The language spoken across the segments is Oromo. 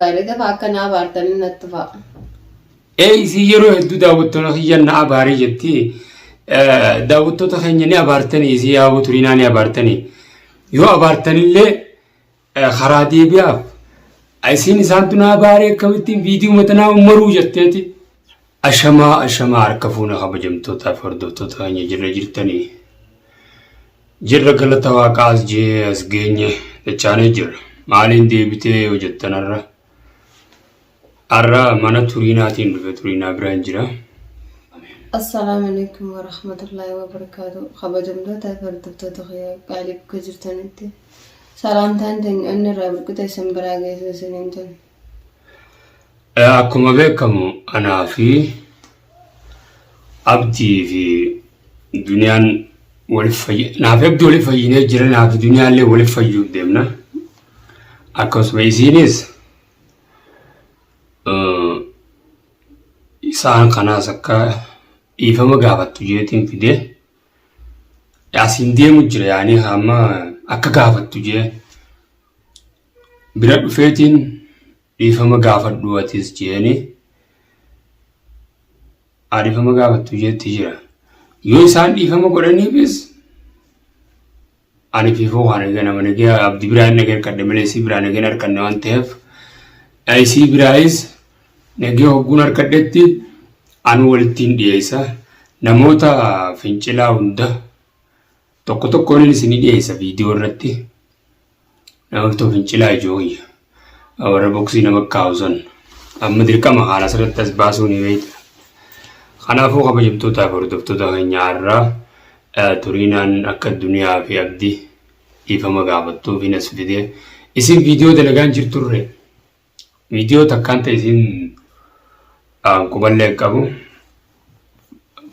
Gaarii tafa akka naa baartanii natti tufa. Ee isii yeroo hedduu daawwattoota kiyya na abaarii jetti. Eh, Daawwattoota keenya ni abaartanii isii yaaboo turinaa ni abaartanii. Yoo abaartanillee eh, karaa deebi'aaf. Isiin isaantu na abaaree akkamittiin viidiyoo matanaa maruu jetteeti. Ashamaa ashamaa harka fuuna kabajamtootaaf hordoftoota keenya jirra jirtanii jirra galata waaqaa as jee as geenye dachaanee jirra maaliin deebitee yoo jettan har'a har'a mana turiinaatiin dhufe turiinaa biraan jira Assalaamu alaikum wa rahmatullahi wa barakaatu. Kabajamtoota fi hordoftoota kiyya qaalii bakka jirtanitti salaamtaan teenya onni irraa burqite isin biraa geessu isiniin jenna. Akkuma beekamu anaa fi abdii fi duniyaan waliif fayyi naa fi abdii waliif fayyinee jira naa fi duniyaallee waliif fayyuuf deemna. Akkasuma isiinis eh, isaan kanaas akka dhiifama gaafattu jeetiin fidee asiin deemu jira yaanii hamma akka gaafattu jee Bira dhufeetiin dhiifama gaafadhu atis jeeni haa dhiifama gaafattu jeetti jira. Yoo isaan dhiifama godhaniifis ani fiifoo waan eegan amane gee abdi biraa hin eegan kadhe malee isii biraa hin eegan harkanne waan ta'eef isii biraayis nagee hogguun harkadhetti anu walittiin dhiyeessa namoota fincilaa hunda Tokko tokkoon isinii dhiyeessa viidiyoo irratti namoota fincilaa ijoollee warra boksii nama kaa'u san amma dirqama haala asirratti as baasuu ni beekta. Kanaafuu kabajamtootaa fi hordoftoota keenyaa irraa turiinaan akka duniyaa fi abdii dhiifama gaafattuuf hin as fidee isin viidiyoo dalagaan jirturre Viidiyoo takkaan ta'e isin quballee qabu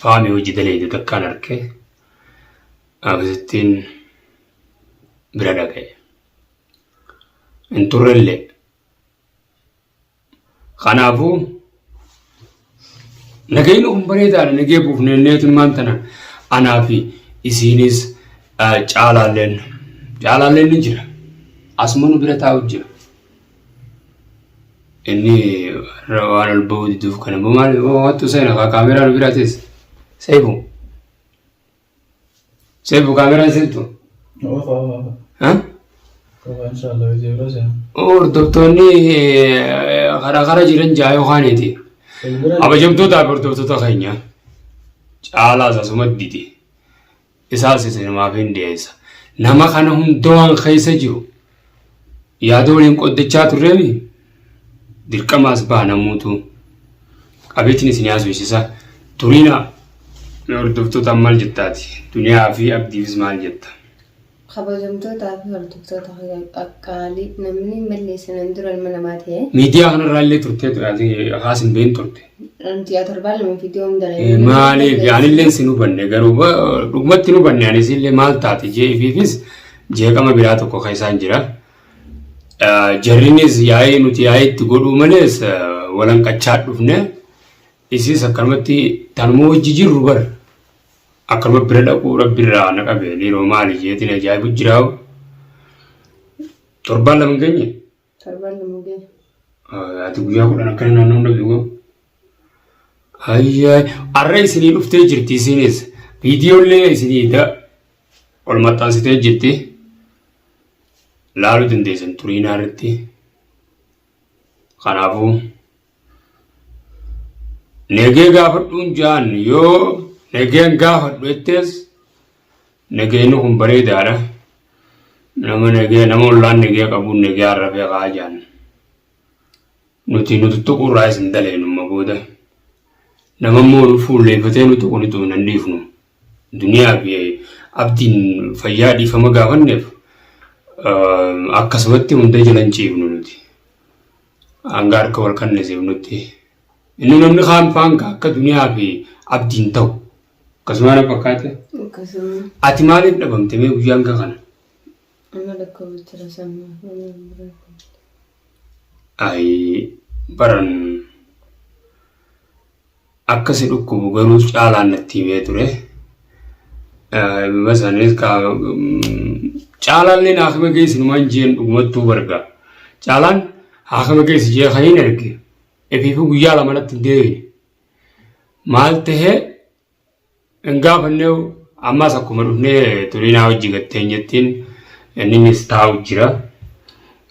faamii hojii daleeyde takkaan arke akkasittiin bira dhaga'e. Hin turrellee. Kanaafuu Nagayni kun bareedaadha nagee buufnee neetummaan tana anaa fi isiinis caalaalleen caalaalleen ni jira asuma nu bira taa'u jira. Inni waan ol ba'uu diduuf kana maal wattu seena kaameeraa nu bira teessa seefu. Seefu kaameraan sirtu. Oofa oofa. Ha? Oofa inshaallah hojii biroo seena. Hordoftoonni eh, karaa karaa jiran ja'a yookaaniiti. Bilbila Abajamtoota hordoftoota keenya caalaas asuma didi. Isaas isinumaaf hin dhiyeessa. Nama kana hundawaan keessa jiru Yaada waliin qoddachaa turreemi dirqamaas baanamuutu qabeetiin isin haasofsiisa. Turiina hordoftoota maal jettaati? Duniyaa fi abdiifis maal jetta? Kabajamtootaa fi hordoftoota kiyya qaqqaalii namni malleessa nan dura ilma namaa ta'e. Miidiyaa kanarraa illee turtee haas hin beekne turte. Guyyaa torbaan lama viidiyoo hin dalagine. Maaliif anillee sin hubanne garuu dhugumatti hin hubanne anis illee maal taate jeefiifis jeeqama biraa tokko keessaan jira. Jarrinis yaa'ii nuti yaa'ii itti godhuu malees walanqachaa dhufne isis akkanumatti tanuma wajji jirru bar akkanuma bira dhaquu rabbirraa na qabe dhiiroo maali jeetiin ajaa'ibu jiraa'u torbaan lama hin geenye. Torban nu mugee. Ati guyyaa kudhan akkana naannoo hunda beeku. Hayyee arra isinii dhuftee jirti isinis viidiyoollee isinii da ol maxxansitee jirti laaluu dandeessan turiinaa irratti kanaafuu. Negee gaafadhuun ja'an yoo negeen gaafadhu jettees negeenni kun bareedaadha. Nama negee nama ollaan negee qabuun negee arrabee kaa ja'an. Nuti nu tuttuquu irraa isin daleenumma booda. Nama immoo nu fuulleeffatee nu tuqu ni tuqu nan dhiifnu. Duniyaa fi abdiin fayyaa dhiifama gaafanneef akkasumatti hunda jalan ciifnu nuti. Hanga harka wal qannasiifnutti. Inni namni kaan faanka akka duniyaa fi abdiin ta'u. Akkasuma na fakkaate. Akkasuma. Ati maaliif dhabamte mee guyyaa hanga kana? Amma lakkoofsicha rasannaaf waliin bira. Ayi baran. Akka si dhukkubu garuu caalaan natti himee ture. Masanis caalaan leen haakima keessa numaan jeen dhugumattuu barga. Caalaan haakima keessa jee kan hin erge. Efiifuu guyyaa lama natti hin deebine. Maal tahee Hin gaafannee ammas akkuma dhufnee turinaa hojii gatteen jettiin inninis taa'u jira.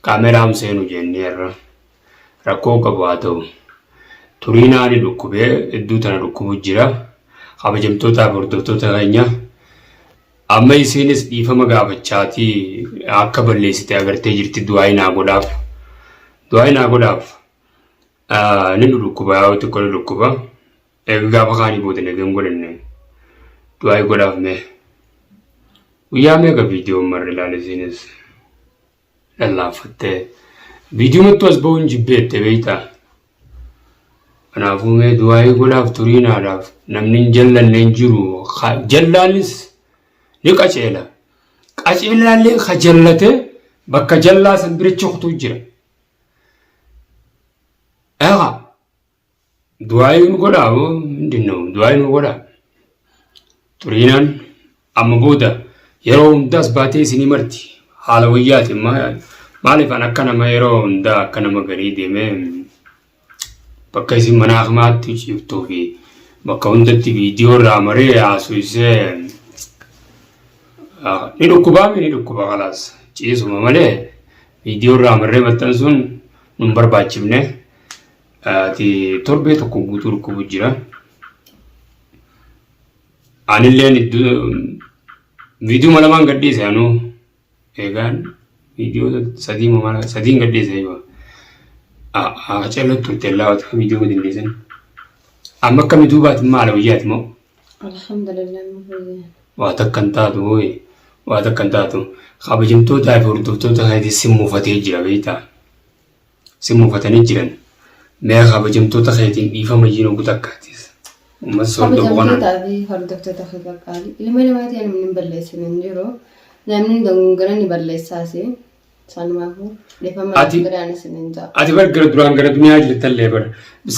Kaameraam seenu jennee irra rakkoo qabu haa ta'u. Turinaa ni dhukkubee iddoo tana dhukkubu jira. Kabajamtootaa fi hordoftoota keenya amma isiinis dhiifama gaafachaatii akka balleessite agartee jirti du'aayi naa godhaaf. Du'aayi naa godhaaf ni dhukkuba yaa xiqqoo ni dhukkuba. Eega gaafa kaanii booda nagan godhanne du'aayi godhaaf mee. Guyyaa meeqa viidiyoon marre ilaale isiinis lallaaffattee viidiyomattuu as ba'uun jibbeette beektaa. Kanaafuu mee du'aayi godhaaf turiinaadhaaf namni hin jallanne hin jiru jallaanis ni qaceela. Qaceelaallee ka jallate bakka jallaa san bira coktuu jira. Eegaa. Du'aayii nu godhaa moo mindin noo du'aayii nu godhaa. Xuriinaan amma booda yeroo hundaas baatee isinii marti haala wayyaati maaliif an akka nama yeroo hundaa akka nama garii deemee bakka isin mana akmaatti ciiftuu fi bakka hundatti viidiyoo irraa maree haasofsee ni dhukkubaa mi ni dhukkuba kalaas ciisuma malee viidiyoo irraa marree maxxansuun nun barbaachifne. Ati torbee tokko guutuu dhukkubu jira. Anilleen iddoo viidiyoo lamaan gadhiise anuu eegaan viidiyoo sadii mala sadiin gadhiise yoo Haacaluu turte laawwatu kan viidiyoo gadi dhiisan. Amma akkami duubaati maala wayyaati moo Alhamdulillah nu fayyee. waa takka hin taatu hooyi waa takka hin taatu kabajamtootaa fi hordoftoota isaaniitiin si muufatee jira beektaa. si muufatanii jiran mee kabajamtoota keetiin dhiifama iyyuu nugu takkaatiis uummata soordo boqonaa Kabajamtootaa fi hordoftoota kee qaqqaalii. Ilma namaa ta'e namni hin balleessine hin jiru. Namni hin dogongora ni balleessaas. Sanumaafuu dhiifama Ati- biraan isin hin ja'a. ati bar gara duraan gara duniyaa jirtallee bar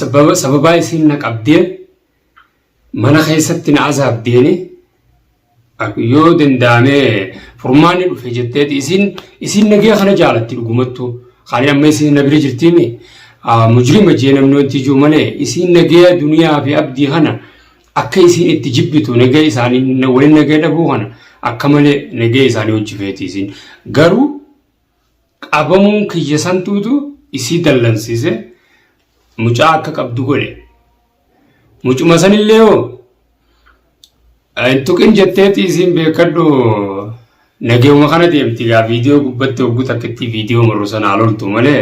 sababa sababaa isiin na qabdee mana keessatti na azaabdeeni yoo danda'ame furmaanni dhufe jetteeti isin isin nagee kana jaalatti dhugumattu kaanii amma isin na bira jirtiimi mujrima jee namni wanti jiru malee isin nagee duniyaa fi abdii kana akka isin itti jibbitu nagee isaanii waliin nagee dhabuu kana akka malee nagee isaanii hojjifeeti isin garuu Qabamuun kiyya santuutu isii dallansiise mucaa akka qabdu godhe. Mucuma sanillee hoo hin tuqin jetteeti isiin beekadhu nageewuma kana deemti gaa viidiyoo gubbatti hogguu takkittii viidiyoo marru sanaa loltu malee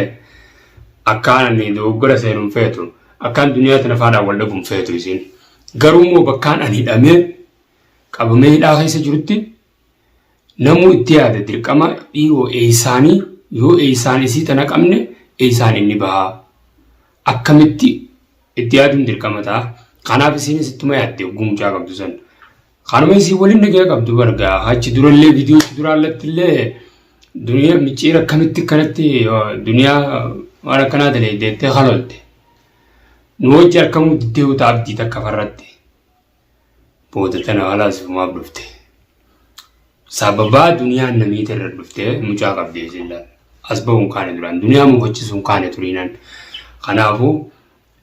akkaan ani dogoggora seenu hin feetu akkaan duniyaa tana faadhaan wal dhabu hin feetu isiin. Garuu immoo bakkaan ani hidhamee qabamee hidhaa keessa jirutti Namuu itti yaada dirqama dhiiroo eeysaanii yoo eeysaan isii tana qabne eeysaan inni bahaa akkamitti itti yaaduun dirqama ta'a kanaaf isiinis ittuma yaadde hogguu mucaa qabdu san kanuma isii waliin nagaya qabdu bargaa achi durallee viidiyoo itti duraallattillee duniyaa micciira akkamitti akkanatti duniyaa waan akkanaa talee deettee halolte nu wajji harkamuu diddee uta abdii takka farratti booda tana haala asumaaf dhufte. Sababaa duniyaan namiiti irra dhufte mucaa qabdee silla as ba'uun kaane duraan duniyaa mufachisuun kaane turiinan. Kanaafuu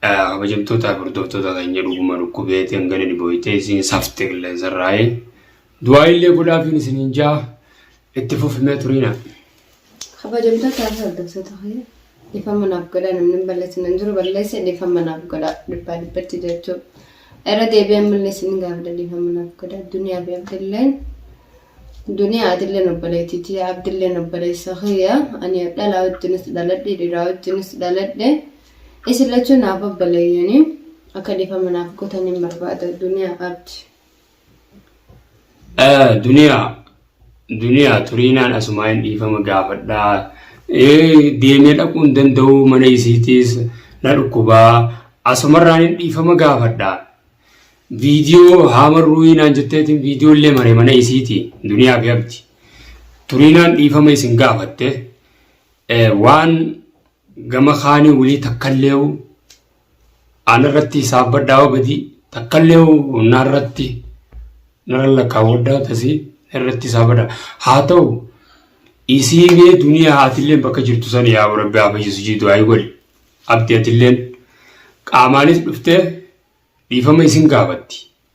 kabajamtoota hordoftoota keenya dhuguma dhukkubeetiin gadi dhibooytee isiin safte qilleensarraa'ee Du'aayiillee godhaafiin isiniin ja'a itti fufi mee turiina. Kabajamtoota haala hordoftoota kee dhiifama naaf godhaa namni hin balleessin hin jiru balleesse dhiifama naaf godhaa dhibbaa dhibbatti jechuu irra deebi'ee ammallee isin gaafadha dhiifama naaf godhaa duniyaa fi abdilleen duniyaa atilleen obboleettii tiyya abdilleen obboleessa kiyya ani dhalaa wajjinis dhaladhe dhiiraa wajjinis dhaladhe isin lachuu naaf obboleeyyanii akka dhiifama naaf godhaniin barbaada duniyaa abdi. Duniyaa duniyaa turiinaan asumaa hin dhiifama gaafadhaa deemee dhaquu hin danda'u mana isiitiis na dhukkubaa asumarraan hin dhiifama gaafadhaa viidiyoo haama ruuyinaan jetteetiin viidiyoo illee mare mana isiiti duniyaa fi abdi turiinaan dhiifama isin gaafatte waan gama kaanii wulii takkallee Ana irratti hisaabbadhaa hoo badii takkallee hoo na irratti nara lakkaawwadhaa tasii irratti hisaabadha. Haa ta'u isii mee duniyaa atilleen bakka jirtu san yaa rabbi haa fayyisu jii du'aayi godhi. Abdi atilleen qaamaanis dhuftee dhiifama isin gaafatti.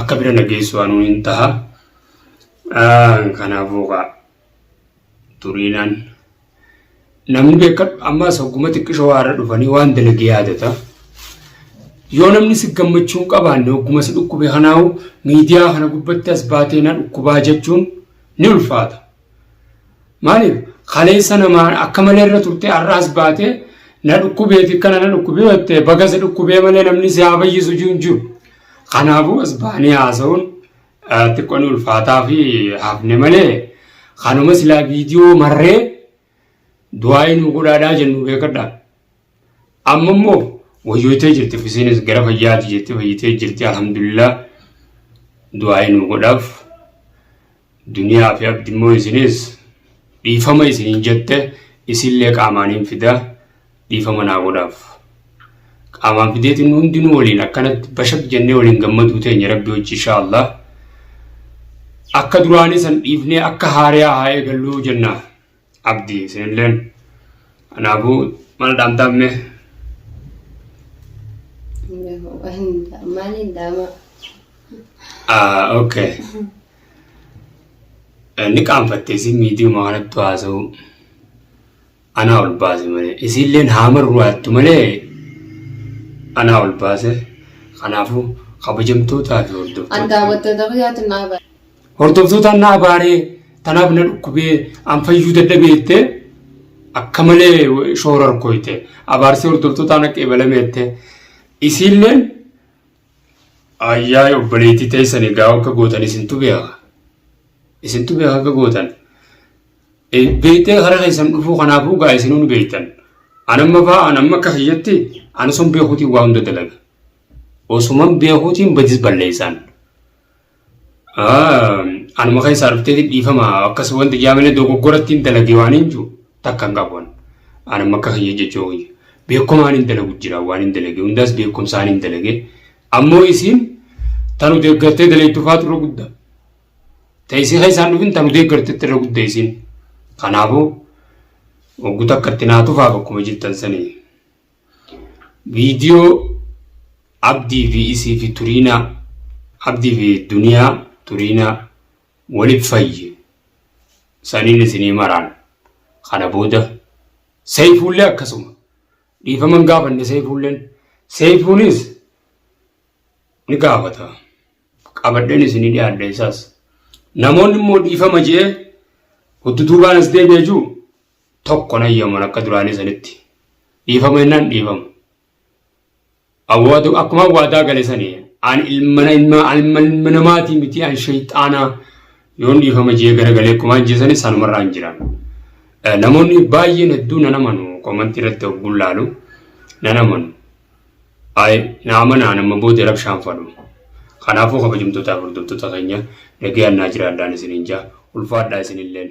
akka bira na geessu anuu hin taha kanaafuu kaa turiinaan namni beekan ammaas hogguma xiqqisho waarra dhufanii waan dalage yaadata yoo namni si gammachuu hin qabaanne hogguma si dhukkube kanaahu miidiyaa kana gubbatti as baatee na dhukkubaa jechuun ni ulfaata. Maaliif kaleessa namaan akka malee irra turte har'aas baate na dhukkubee fi kana na dhukkubee jettee baga si dhukkubee malee namni si haa fayyisu jiru jiru. Kanaafuu as baanii haasa'uun xiqqoon ulfaataa fi hafne malee kanuma silaa viidiyoo marree du'aa inni godhaadhaa jennu beekadha. Amma immoo wayyooytee jirti fisiinis gara fayyaati jetti fayyitee jirti alhamdulillah du'aa'ii nu godhaaf duniyaa fi abdi immoo isinis dhiifama isiniin jette isillee qaamaaniin fida dhiifama naa godhaaf qaamaan fideetiin hundinuu waliin akkanatti bashak jennee waliin gammaduu teenya rabbi hojii inshaa allah akka duraanii san dhiifnee akka haariyaa haa eegalluu jennaa Abdii isinilleen. Kanaafuu maal dhaamtaaf mee? Maaliin dhaamaa? Ah, okay. Inni qaanfatte isin miidiyuma kanatti haasa'u anaa ol baase malee isiilleen haamarru hattu malee anaa ol baase kanaafuu kabajamtootaa fi An hordoftoota daawwattoota kiyyaatu naa bara. Hordoftoota na abaaree tanaaf na dhukkubee an fayyuu dadhabee jettee akka malee shoora harkooyte abaarsee hordoftootaa na qeebalame jettee isiilleen ayyaa obboleettii teessan egaa akka gootan isintu beeka isintu beeka akka gootan beektee karaa keessan dhufuu kanaafuu gaa isinuu ni beektan anamma faa anamma akka kiyyatti anasuun beekuutiin waa hunda dalaga osuman beekuutiin badis balleessaan. Anuma kan isaa dhufteeti dhiifama akkas wanti jaamina dogoggoratti hin dalagee waan hin jiru takka hin qabu. Anuma akka kiyya jechuu kiyya. Beekumaan hin dalagu jira waan hin dalagee hundaas beekumsaan hin dalagee. Ammoo isiin tanu deeggartee daleettu faatu irra guddaa. Ta'isii kan isaan dhufin tanu deeggartetti irra guddaa isiin. Kanaafuu oggu takka itti naatufaaf akkuma jirtan sanii. Viidiyoo Abdii fi isii fi Turiinaa Abdii fi Duniyaa Turiinaa waliif fayye saniin isinii maraan kana booda Seeyifuullee akkasuma dhiifama hin gaafanne Seeyifuulleen Seeyifuunis ni gaafata qabadheen isinii dhiyaadhe isaas namoonni immoo dhiifama je'ee huddutuubaan as deebi'e jiru tokko hin hayyaman akka duraanii sanitti. Dhiifama jennaan dhiifama. Awwaatu akkuma waadaa gale sani an ilmana ilma ilma ilma namaatii miti an shayxaanaa yoon dhiifama jee garagalee akkuma ajjeesani sanumarraa hin jiran. Eh, Namoonni baay'een hedduu nan amanu komantii irratti ogguun laalu nan amanu. Ay, na amanaa nama booda rabshaan fadhu. Kanaafuu kabajamtootaa fi hordoftoota keenya nagayaan naa jiraadhaan isiniin jaa ulfaadhaa isinilleen.